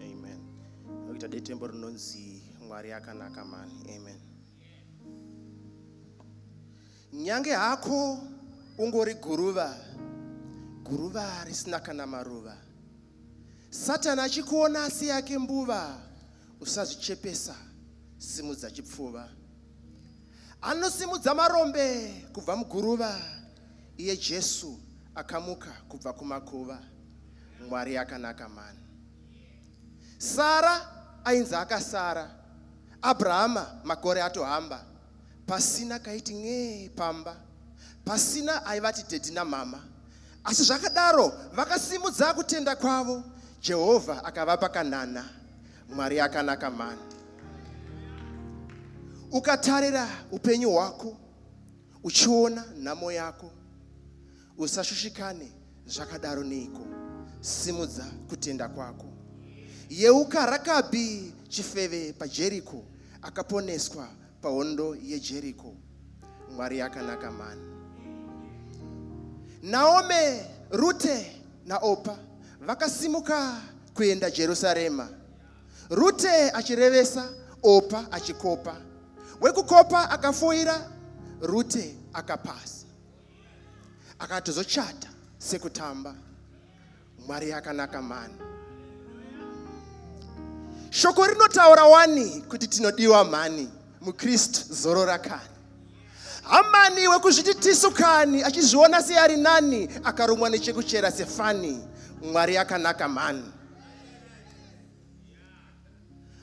amen nokuita detembo rinonzi mwari akanaka mani amen nyange hako ungori guruva guruva risina kana maruva satani achikuona asi yake mbuva usazvichepesa simudza chipfuva anosimudza marombe kubva muguruva Iye Jesu akamuka kubva kumakuva. Mwari akanaka mani. Sara ainzi akasara. Abrahama makore atohamba. Pasina kaiti n'ee pamba. Pasina aivati dhedhi namama. Asi zvakadaro vakasimudza kutenda kwavo. Jehovha akavapa kanana. Mwari akanaka mani. Ukatarira upenyu hwako Uchiona nhamo yako usashushikane zvakadaro neiko simudza kutenda kwako yeuka rakabi chifeve pajeriko akaponeswa pahondo yejeriko mwari yakanaka mani naome rute naopa vakasimuka kuenda jerusarema Rute achirevesa, Opa achikopa. Wekukopa akafoira, Rute akapasa. Akatozochata sekutamba. Mwari akanaka mani. Shoko rinotaura wani kuti tinodiwa mhani muKristu zorora kani. Hamani wekuzviti tisu kani achizviona seari nani akarumwa nechekuchera sefani. Mwari akanaka mhani.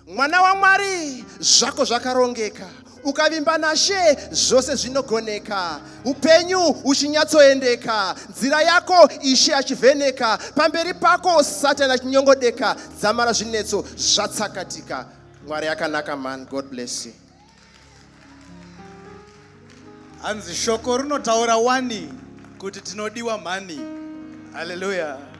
mwana wamwari zvako zvakarongeka ukavimba nashe zvose zvinogoneka upenyu uchinyatsoendeka nzira yako ishe achivheneka pamberi pako satani achinyongodeka dzamara zvinetso zvatsakatika mwari akanaka man god bless you hanzi shoko rinotaura wani kuti tinodiwa mhani haleluya